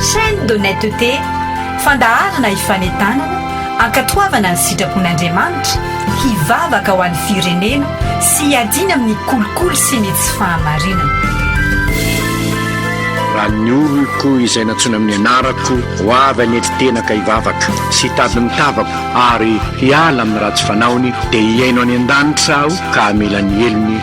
Chaîne d'honnêteté, fandaharana hifanentanana, hankatoavana ny sitrapon'Andriamanitra, hivavaka ho an'ny firenena sy hiadiana amin'ny kolikoly sy ny tsy fahamarinana. Raha ny oloko izay nantsoina amin'ny anarako ho avy hanetry tena ka hivavaka sy hitady ny tavako ary hiala amin'ny ratsy fanaony dia hihaino any an-danitra aho ka hamela ny helony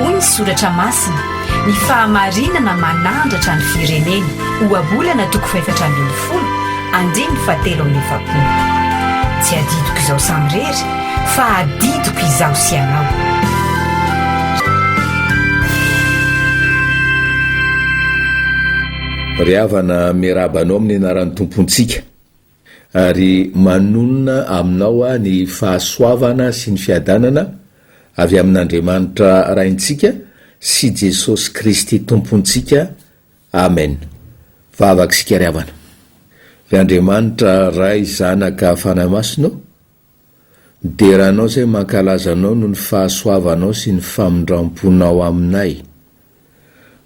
Hoy ny soratra masina, Ny fahamarinana manandratra ny firenena, Ohabolana toko fahefatra ambin'ny folo, andininy fahatelo amby efapolo. Tsy adidiko izaho samirery, fa adidiko izaho sy ianao. Ry havana, miarahaba anao amin'ny anaran'ny Tompontsika, ary manonona aminao aho ny fahasoavana sy ny fiadanana avy amin'Andriamanitra Raintsika sy Jesosy Kristy Tompontsika. Amen. Vavaka isika ry havana. Ry Andriamanitra Ray, Zanaka, Fanahy Masina ô, Ny deranao izay mankalaza anao noho ny fahasoavanao sy ny famindram-ponao aminay.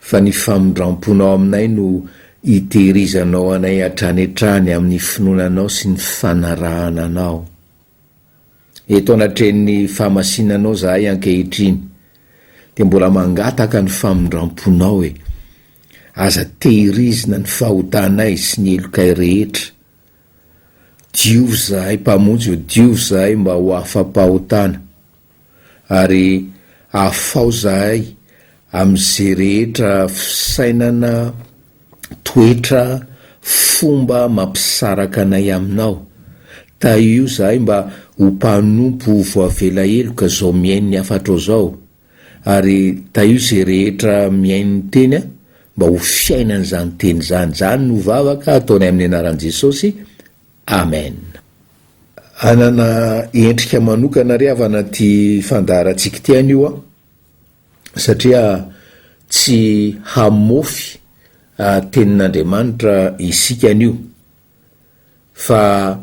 Fa ny famindram-ponao aminay no itehirizanao anay hatrany hatrany amin'ny finoana anao sy ny fanarahana anao. Eto anatrehan'ny fahamasinanao izahay ankehitriny, dia mbola mangataka ny famindram-ponao e. Aza tehirizina ny fahotanay sy ny helokay rehetra. Diovy izahay, Mpamonjy o, diovy izahay mba ho afa-pahotana, ary afaho izahay amin'izay rehetra fisainana, toetra, fomba mampisaraka anay Aminao. Tahio izahay mba ho mpanompo voavela heloka izao mihaino ny hafatrao izao. ary tahio izay rehetra mihaino ny teny aho mba ho fiainany izany teny izany, izany no vavaka ataonay amin'ny anaran'i Jesosy, Amen. Hanana endrika manokana re havana ity fandaharantsika ity anio an! satria tsy hamofy tenin'Andriamanitra isika anio fa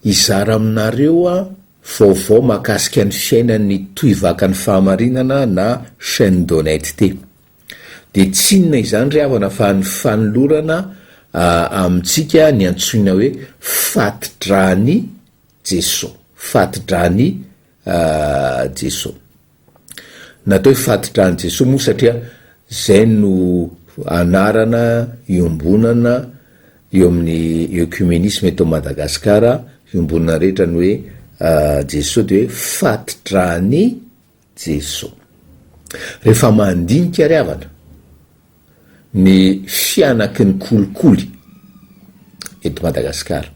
Hizara aminareo aho vaovao mahakasika ny fiainan'ny Tohivakan'ny Fahamarinana na Chaine d'Honnêteté. Dia tsy inona izany ry havana fa ny fanolorana amintsika ny antsoina hoe fati-dran'i Jesoa, fati-dran'i Jesoa. Natao hoe fatitra an'i Jesoa moa satria zay no anarana iombonana eo amin'ny ecumenisme eto Madagascar iombonana rehetra ny hoe Jesoa de hoe fatitra an'i Jesoa. Rehefa mandinika ry havana ny fianaky ny kolikoly eto Madagascar.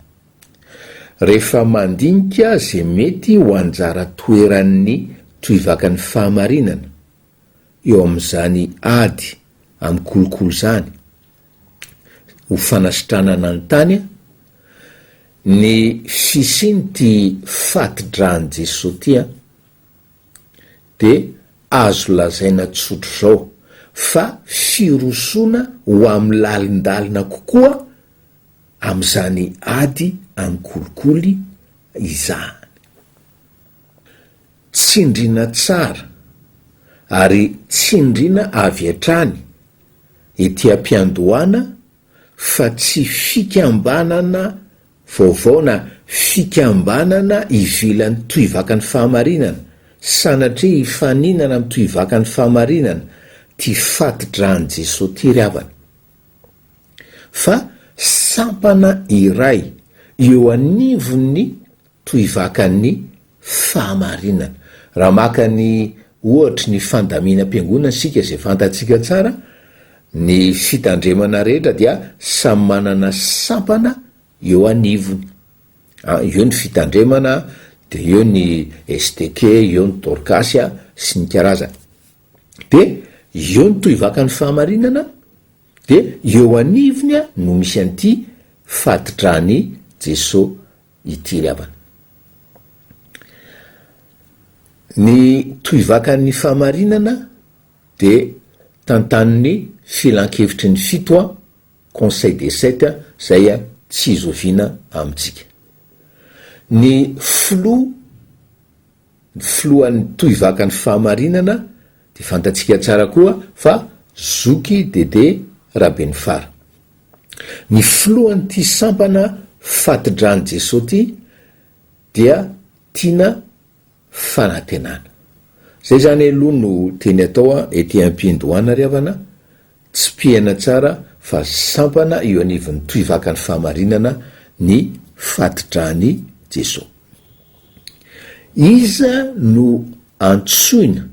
Rehefa mandinika izay mety ho anjara toeran'ny tohivakan'ny fahamarinana eo amin'izany ady amin'ny kolikoly izany ho fanasitranana ny tany ny fisian'ity fati-dran'i Jesoa ity dia azo lazaina tsotra izao fa firosoana ho amin'ny lalindalina kokoa amin'izany ady an-kolikoly izany. Tsindriana tsara ary tsindriana avy hatrany ety am-piandohana fa tsy fikambanana vaovao na fikambanana ivelan'ny tohivakan'ny fahamarinana sanatria hifaninana amin'ny tohivakan'ny fahamarinana ty fati-dran'i Jesoa ty ry havana. fa sampana iray eo anivon'ny tohivakan'ny fahamarinana. Raha maka ny ohatry ny fandaminam-piangonana isika izay fantatsika tsara, ny fitandremana rehetra dia samy manana sampana eo anivony. A, eo ny fitandremana, dia eo ny STK, eo ny Dorkasy sy ny karazany. Dia eo no tohivakan'ny fahamarinana, dia eo anivony no misy an'ity fadidran'i Jeso ity ry havana. Ny tohivakan'ny fahamarinana dia tantanin'ny filankevitry ny fito a, conseil des sept, izay tsy zoviana amintsika. Ny filoha. ny filohan'ny tohivakan'ny fahamarinana dia fantatsika tsara koa fa zoky Dédé Rabenifara. Ny filohan'ity sampana fati-dran'i Jesoa ity dia tiana fanantenana. Izay izany aloha no teny atao an, ety am-piandohana ry havana Tsipihana tsara fa sampana eo anivon'ny tohivakan'ny fahamarinana ny fati-dran'i Jeso. Iza no antsoina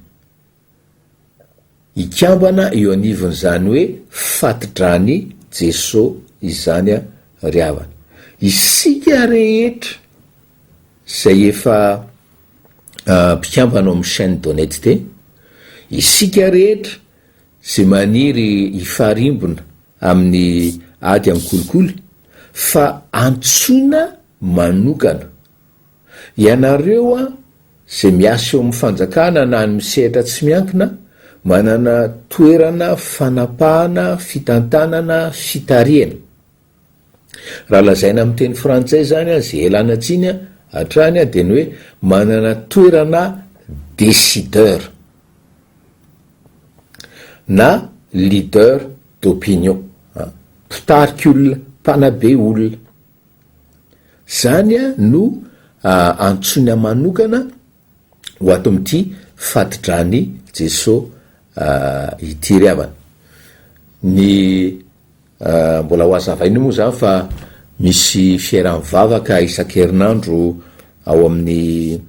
hikambana eo anivon'izany hoe fati-dran'i Jeso izany ry havana? Isika rehetra izay efa mpikambana ao amin'ny chaine d'honnetete, isika rehetra izay maniry hifarimbona amin'ny ady amin'ny kolikoly fa antsoina manokana. Ianareo an, izay miasa eo amin'ny fanjakana na any misehatra tsy miankina, manana toerana fanapahana, fitantanana, fitarihana. Raha lazaina amin'ny teny frantsay izany an, izay ialana tsiny hatrany an, dia ny hoe manana toerana décideur na leader d'opinion, an, mpitarik'olona, mpanabe olona. Izany an no antsoina manokana. ho ato amin'ity fati-dran'i Jeso ity ry havana. Ny mbola ho azavaina moa zany fa misy fiera mivavaka isan-kerinandro ao amin'ny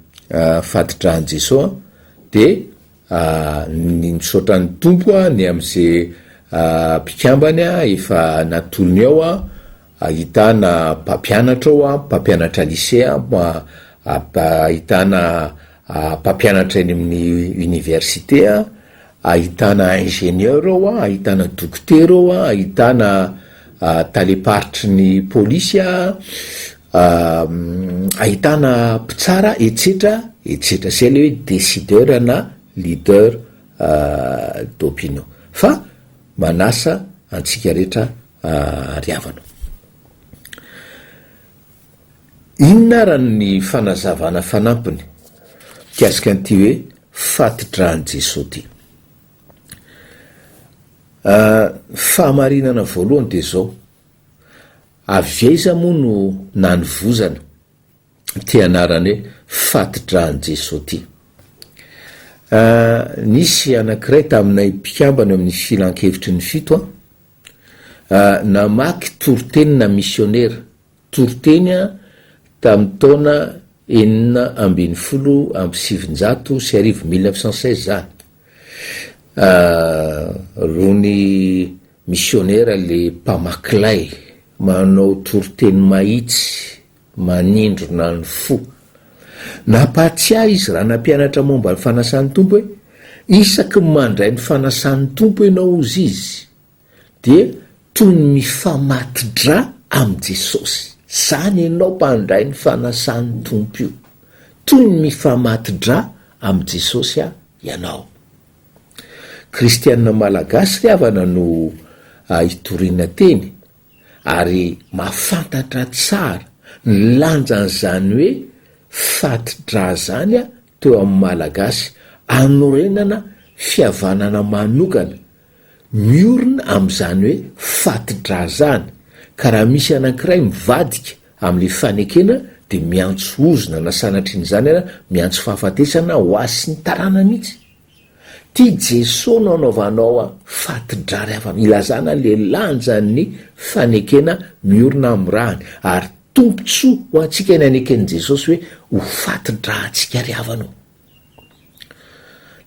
fati-dran'i Jeso de ny misaotra ny Tompo ny am'ze mpikambany efa natolony ao Ahitana mpampianatra ao an, mpampianatra lisea an, ahitana mpampianatra eny amin'ny université an, ahitana ingénieur ao an, ahitana dokotera ao an, ahitana talem-paritry ny polisy an, ahitana mpitsara etsetra etsetra. Izay ilay hoe décideur na leader d'opinion. Fa manasa antsika rehetra. ariavana. Inona ara ny fanazavana fanampiny mikasika an'ity hoe fati-dran'i Jesoa ity? Ah, fahamarinana voalohany dia izao, avy aiza moa no nanivozana? ty anarany hoe fati-dran'i Jesoa ty. Nisy anankiray taminay mpikambana eo amin'ny filankevitry ny fito namaky toritenina misionera, toriteny tamin'ny taona enina ambin'ny folo amby sivinjato sy arivo, mille neuf cent seize, zany. Rony misionera le mpamakilay manao toriteny mahitsy. manindrona ny fo. Nampahatsiahy izy raha nampianatra momba ny fanasan'ny Tompo hoe, Isaky ny mandray ny fanasan'ny Tompo ianao, hozy izy, dia toy ny mifamati-dra amin'i Jesosy. Izany ianao mpandray ny fanasan'ny Tompo io. Toy ny mifamati-dra amin'i Jesosy aho, ianao. Kristiana Malagasy ry havana no hitoriana teny. ary mahafantatra tsara ny lanjan'izany hoe fati-dra zany teo amin'ny Malagasy anorenana fihavanana manokana miorina amin'izany hoe fati-dra zany ka raha misy anankiray mivadika amin'ny fanekena dia miantso ozona na sanatrian'izany miantso fahafatesana ho azy sy ny tarana mihitsy. Ty Jeso no anaovanao a fatidrary afa ilazana le lanjan ny fanekena miorina am rany ary tombotsoa ho antsika ny aneken Jesosy hoe ho fatidrahantsika ry havana o.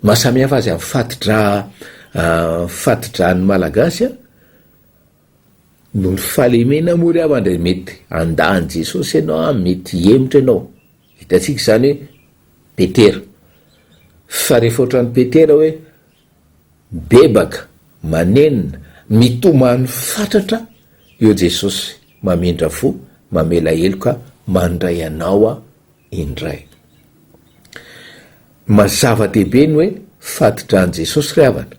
Ny maha samy hafa azy am fatidra fatidran ny malagasy a noho ny fahalemena moa ry havana mety handany Jesosy enao a mety hihemotra enao. Hitantsika izany hoe Petera. Fa rehefa ohatran'i Petera hoe mibebaka, manenina, mitomany fatratra eo Jesosy mamindra fo, mamela heloka, mandray anao aho indray. Mazava-dehibe ny hoe fadi-dran'i Jesosy ry havana.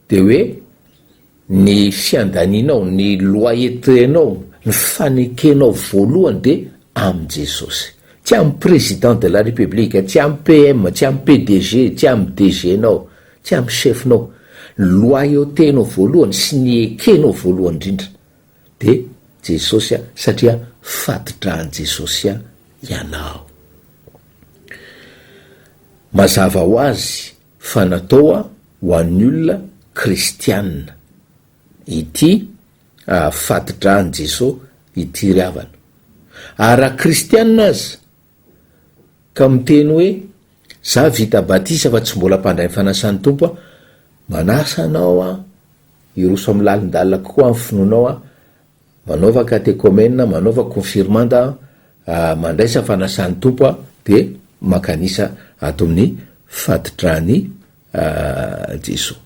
dia hoe ny fiandanianao, ny loyautenao, ny fanekenao voalohany dia amin'i Jesosy. Tsy amin'ny Président de la République, tsy amin'ny PM, tsy amin'ny PDG, tsy amin'ny DG-nao, tsy amin'ny chef-nao. Ny loyautenao voalohany sy ny ekenao voalohany indrindra dia Jesosy satria fatidrahan'i Jesosy ianao. Mazava ho azy fa natoa ho an'ny olona kristianina ity fati-dran'i Jeso ity ry havana. Ary raha kristianina aza ka miteny hoe, za vita batisa fa tsy mbola mpandray ny fanasan'ny Tompo aho, manasa anao aho hiroso amin'ny lalin-dalina kokoa amin'ny finoanao aho, Manaova katekomena, manaova konfirmanda aho, mandraisa fanasan'ny Tompo aho, dia maka an'isa ato amin'ny fatodrany Jesoa.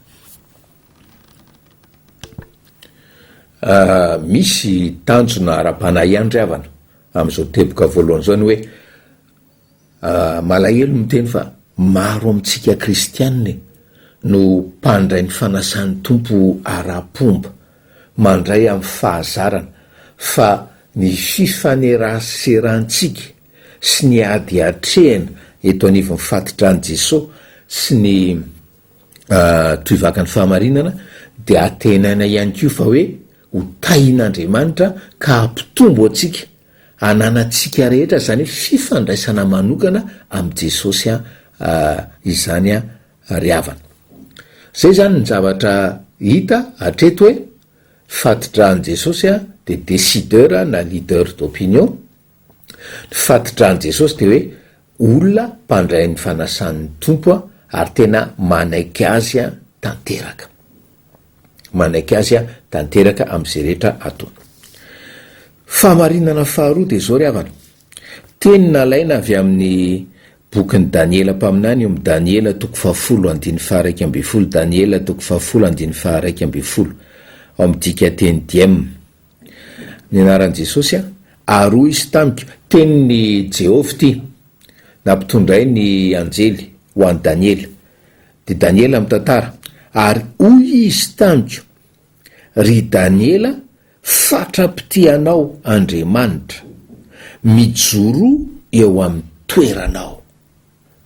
Misy tanjona ara-panahy ihany ry havana amin'izao teboka voalohany izao ny hoe, Malahelo miteny fa maro amintsika kristiana no mpandray ny fanasan'ny Tompo ara-pomba, mandray amin'ny fahazarana, fa ny fifaneraserantsika sy ny ady atrehina eto anivon'ny fatitran'i Jesosy sy ny tohivakan'ny fahamarinana dia antenaina ihany koa fa hoe ho tahin'Andriamanitra ka hampitombo antsika ananantsika rehetra izany hoe fifandraisana manokana amin'i Jesosy izany ry havana. Izay izany ny zavatra hita hatreto hoe fati-dran'i Jesosy dia décideur na leader d'opinion, ny fati-dran'i Jesosy dia hoe olona mpandray ny fanasan'ny Tompo ary tena manaiky Azy tanteraka. manaiky azy a tanteraka am'zay rehetra ataony. Fahamarinana faharoa dia zao ry havana, teny nalaina avy amin'ny bokin'i Daniela mpaminany eo amin'ny Daniela toko fahafolo andininy faharaika ambin'ny folo Daniela toko fahafolo andininy faharaika ambin'ny folo ao amin'ny dikanteny Diem. Ny anaran'i Jesosy a, ary hoy izy tamiko, tenin'i Jehovah ity, nampitondray ny anjely ho an'i Daniela, Dia Daniela mitantara, Ary hoy izy tamiko, Ry Daniela, fatra-pitia anao Andriamanitra, mijoroa eo amin'ny toeranao.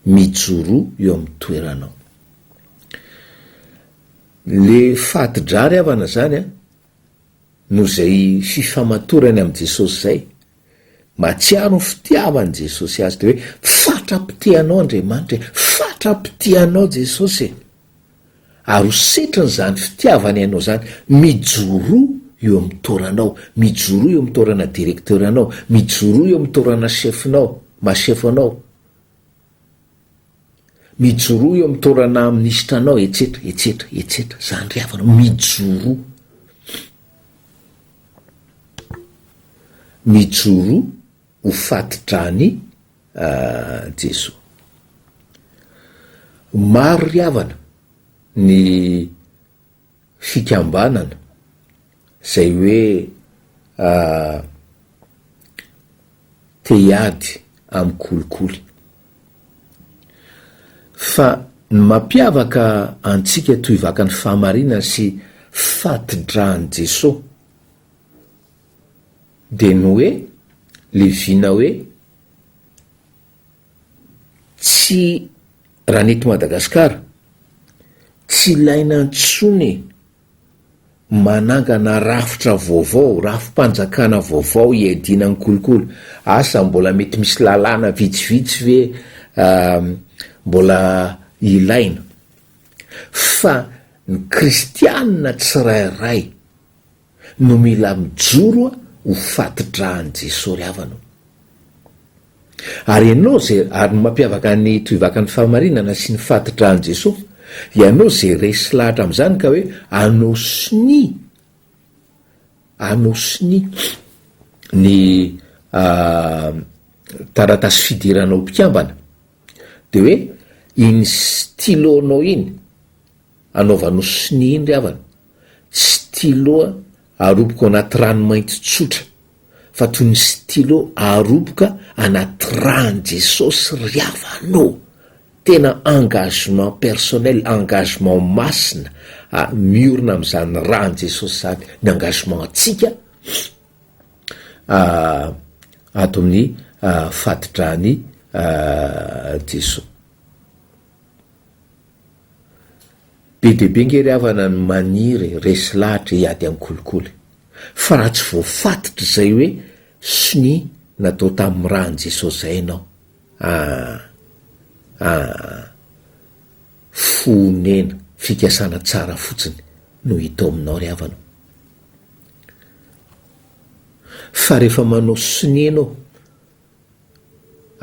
Mijoroa eo amin'ny toeranao. Le fati-drary havana zany an, noho izay fifamatorany amin'i Jesosy izay, Mahatsiaro ny fitiavan'i Jesosy azy dia hoe, Fatra-pitia anao Andriamanitra e! Fatra-pitia anao Jesosy e! Ary ho setrin'izany fitiavany anao izany, mijoroa eo amin'ny toranao, mijoroa eo amin'ny torana directeur-nao, mijoroa eo amin'ny torana chef-nao, maha-chef anao. Mijoroa eo amin'ny taoranà minisitra anao etsetra, etsetra, etsetra. Izany ry havana, mijoroa. Mijoroa ho fati-dran'i Jesoa. Maro ry havana ny fikambanana izay hoe te hiady amin'ny kolikoly. Fa ny mampiavaka antsika toy vakan'ny fahamarinana sy fati-dran'i Jesoa dia ny hoe leviana hoe Tsy raha ny eto Madagasikara. Tsy ilaina intsony e! Manangana rafitra vaovao, rafi-panjakana vaovao hiadiana ny kolikoly. Asa mbola mety misy lalàna vitsivitsy ve mbola ilaina? Fa ny kristianina tsirairay no mila mijoro ho fatidrahan'i Jesoa ry havana o. Ary ianao ze, ary ny mampiavaka ny tohivakan'ny fahamarinana sy ny fatidrahan'i Jesoa, ianao ze resy lahatra amin'izany ka hoe anao sonia, anao sonia ny taratasy fidiranao mpikambana, de hoe iny stylo-nao iny, Anaovano sonia indry havana, stylo aroboka ao anaty rano mainty tsotra, fa toy ny stylo aroboka anaty ràn'i Jesosy ry havana ô! Tena engagement personnel, engagement masina a, miorina amin'izany ràn'i Jesosy izany ny engagement antsika a, ato amin'ny fati-dràn'i Jesoa. Be dia be ange ry havana ny maniry e, resy lahatra hiady amin'ny kolikoly. Fa raha tsy voafatotr izay hoe sonia natao tamin'ny ran'i Jesosy izay ianao, aah, aah, fohonena, fikasana tsara fotsiny no hita ao aminao ry havana. Fa rehefa manao sonia ianao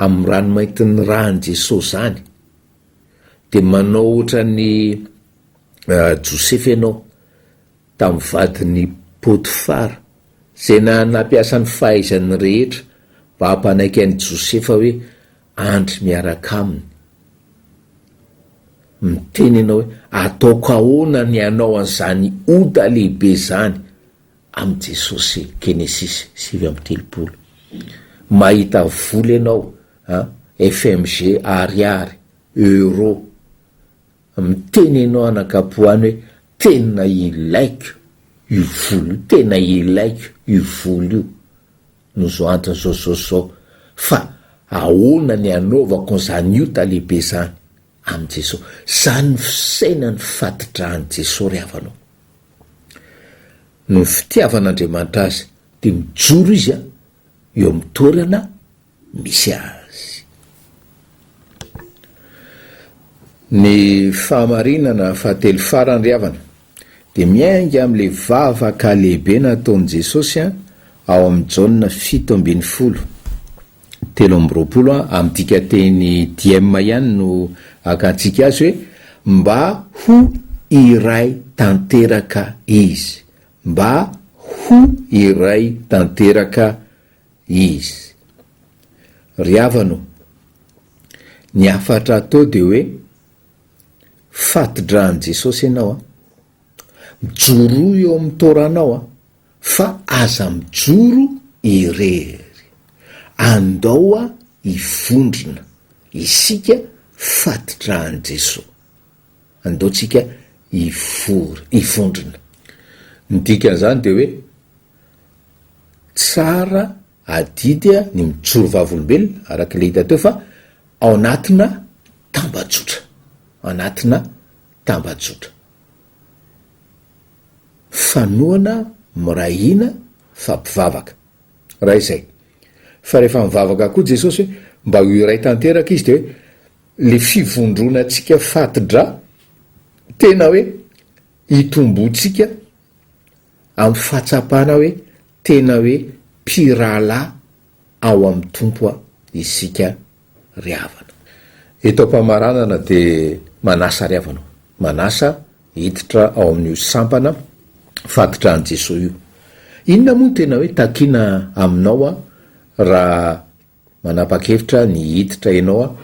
amin'ny ranomaintin'ny ran'i Jesosy izany, Dia manao ohatran'i Josefa ianao tamin'ny vadin'i Potifara, izay nampiasa ny fahaizany rehetra mba hampanaiky an'i Josefa hoe andry miaraka aminy. Miteny ianao hoe, Ataoko ahoana ny hanao an'izany ota lehibe izany? amin'i Jesosy Genesis sivy amby telopolo. Mahita vola ianao an, FMG, ariary, euro, miteny ianao anankapoany hoe tena ilaiko io vola io, tena ilaiko io vola io no zao antony zao zao zao fa ahoana ny anaovako an'izany ota lehibe zany, Amin'i Jesoa. Zany ny fisainan'ny fatidrahan'i Jesoa ry havana o. Noho ny fitiavan'Andriamanitra azy dia mijoro izy eo amin'ny toerana misy azy. Ny fahamarinana fahatelo farany ry havana Dia miainga amin'ilay vavaka lehibe nataon'i Jesosy ao amin'ny Jaona fito ambin'ny folo, telo amby roapolo, amin'ny dikanteny dm ihany no akantsika azy hoe, Mba ho iray tanteraka izy. Mba ho iray tanteraka izy. Ry havana ô, ny hafatra atao dia hoe, Fatidra an'i Jesosy ianao a! Mijoroa eo amin'ny Torah-nao a! Fa aza mijoro irery! Andao a hivondrona isika fatidra an'i Jesosy! Andao tsika hivory, hivondrona! Ny dikan'izany dia hoe, tsara Adidy ny mijoro vavolombelona, araka ilay hita teo, fa ao anatina tambajotra. Anatina tambajotra. Fanohana, miray hina, fa mpivavaka. Raha izay. Fa rehefa mivavaka koa Jesosy hoe mba ho iray tanteraka izy dia hoe le fivondronantsika fatidra tena hoe hitomboantsika amin'ny fahatsapana hoe Tena hoe mpirahalahy ao amin'ny Tompo isika ry havana. Eto am-pamaranana dia manasa ry havana o, manasa hiditra ao amin'io sampana fatodrany Jesoa io. Inona moa no tena hoe takiana aminao raha Manapakevitra ny hiditra ianao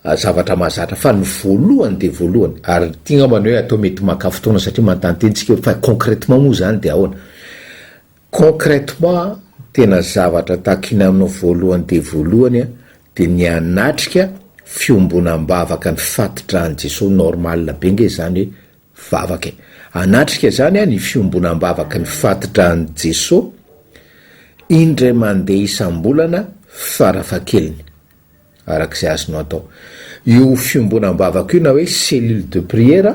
a, zavatra mahazatra fa ny voalohany dia voalohany. Ary ity ngambany hoe atao mety maka fotoana satria manontany teny tsika hoe fa concrètement moa izany dia ahoana? Concrètement tena zavatra takiana aminao voalohany dia voalohany a dia ny hanatrika fiombonam-bavaka ny fatidrahan'i Jesoa normal be nge izany hoe Vavaka e! Anatrika zany an ny fiombonambavaky ny fatidrahan'i Jeso indray mandeha isambolana farafahakeliny, arak'izay azonao atao. Io fiombonambavaka io na hoe cellule de prière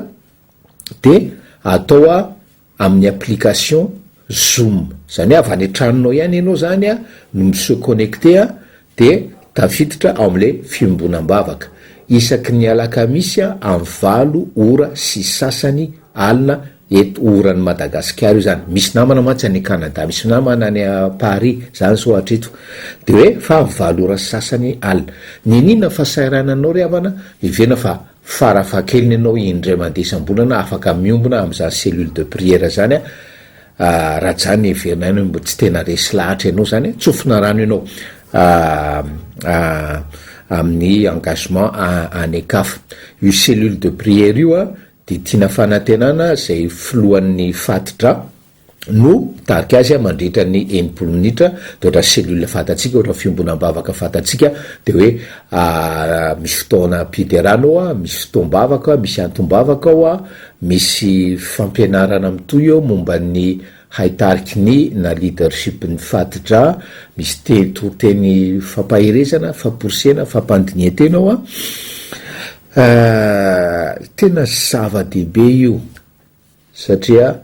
dia atao a amin'ny application zoom, zany hoe avy any an-tranonao ihany ianao zany a no mi se connecter a Dia tafiditra ao amin'ilay fiombonam-bavaka, isaky ny alakamisy amin'ny valo ora sy sasany alina eto oran'i Madagasikara io izany, misy namana mantsy any Canada, misy namana any Paris, za anso hatreto, dia hoe fa valo ora sy sasany alina. Niniana fa sairana anao ry havana, hevena fa farafahakeliny ianao indray mandeha isam-bolana afaka miombona amin'izany cellule de prière izany, Ah, raha zany heverinay anao mba tsy tena resy lahatra ianao zany eh, tsofina rano ianao ah, ah, amin'ny engagement ah, any Ecaf. Io cellule de prière io ah, dia tiana fanantenana izay filohan'ny fatidra no mitarika azy ah, mandritra ny enimpolo minitra, dia ohatra cellule fatantsika, ohatra fiombonam-bavaka fatantsika, dia hoe ah, misy fotoana am-piderana ao ah, misy fotoam-bavaka, misy antom-bavaka ao ah, Misy fampianarana mitohy eo momba ny haitariky ny na leadership ny fat-dra, misy te toriteny fampaherezana, famporisena, fampandinihan-tena ao an. Ahh tena zava-dehibe io satria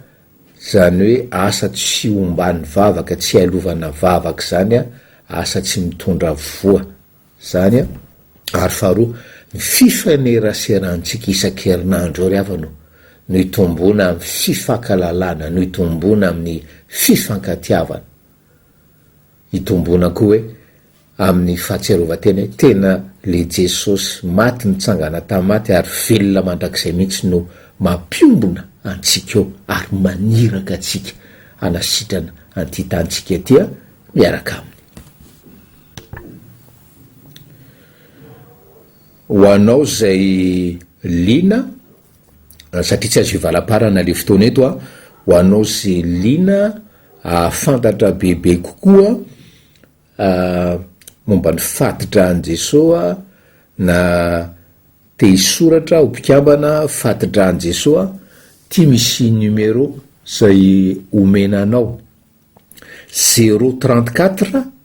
zany hoe asa tsy omban'ny vavaka, tsy ialovaina vavaka zany an, asa tsy mitondra voa. Izany an, ary faharoa, ny fifaneraserantsika isan-kerinandro ry havana o, no itomboana amin'ny fifakalalana, no itomboana amin'ny fifankatiavana. Itomboana koa hoe amin'ny fahatsiarovan-tena hoe tena le Jesosy maty nitsangana tamin'ny maty ary velona mandrakizay mihitsy no mampiombona antsika eo ary maniraka antsika hanasitrana an'ity tanintsika ity an, miaraka aminy. Ho anao izay liana, satria tsy azo hivalaparana le fotoana eto a, ho anao izay liana ahafantatra bebe kokoa momba ny fati-dran'i Jesoa na te hisoratra ho mpikambana fati-dran'i Jesoa, ty misy numéro izay omena anao, zéro trente quatre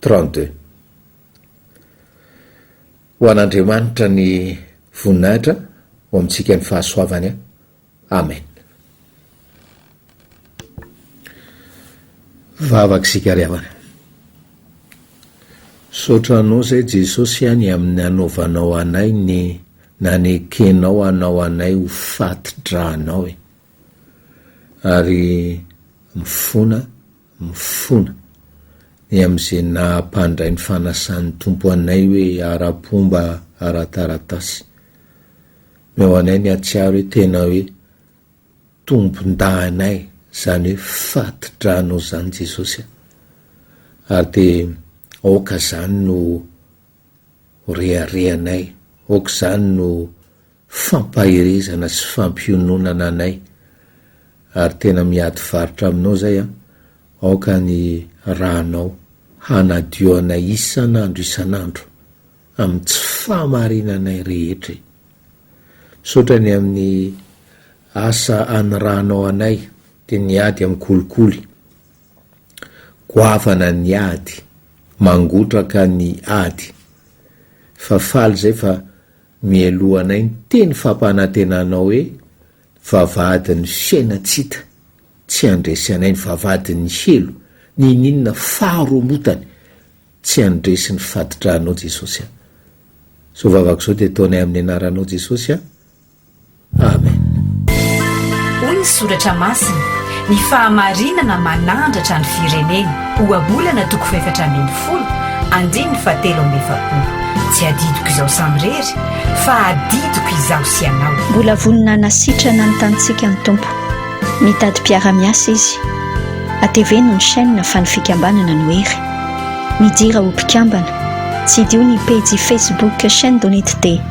32. Ho an'Andriamanitra ny voninahitra, ho amintsika ny fahasoavany. Amen. Vavaka sikariavana. Misaotra Anao izay Jesosy a ny amin'ny anaovanao anay ny nanekenao anao anay ho faty-dra anao e. Ary mifona mifona. Ny amin'izay naha-mpandray ny fanasan'ny Tompo anay hoe ara-pomba ara-taratasy. Omeo anay ny hahatsiaro hoe tena hoe tompon-dahinay izany hoe fati-dranao izany Jesosy a! Ary dia aoka izany no ho reharehanay, aoka izany no fampaherezana sy fampiononana anay ary tena miady faritra aminao zay an, aoka ny ranao hanadio anay isan'andro isan'andro amin'ny tsy fahamarinanay rehetra e! Misaotra ny amin'ny asa anirahanao anay dia ny ady amin'ny kolikoly goavana ny ady mangotraka ny ady fa faly zay fa Mialohanay ny teny fampanantenanao hoe vavahadin'ny fiaina tsy hita, tsy handresy anay ny vavahadin'ny helo, ninianina faharomotany tsy handresy ny fatidrahanao Jesosy a. Zao vavaka zao dia ataonay amin'ny anaranao Jesosy a. Amen. Hoy ny Soratra Masina, Ny fahamarinana manandratra ny firenena, Ohabolana toko fahefatra ambin'ny folo, andininy fahatelo amby efapolo. Tsy adidiko izaho samirery, fa adidiko izaho sy ianao. Mbola vonona hanasitrana ny tanintsika ny Tompo. Mitady mpiara-miasa Izy. Ateveno ny chaîne fa ny fikambanana no hery. Midira ho mpikambana. Tsidiho ny pejy Facebook Chaîne d'Honnêteté.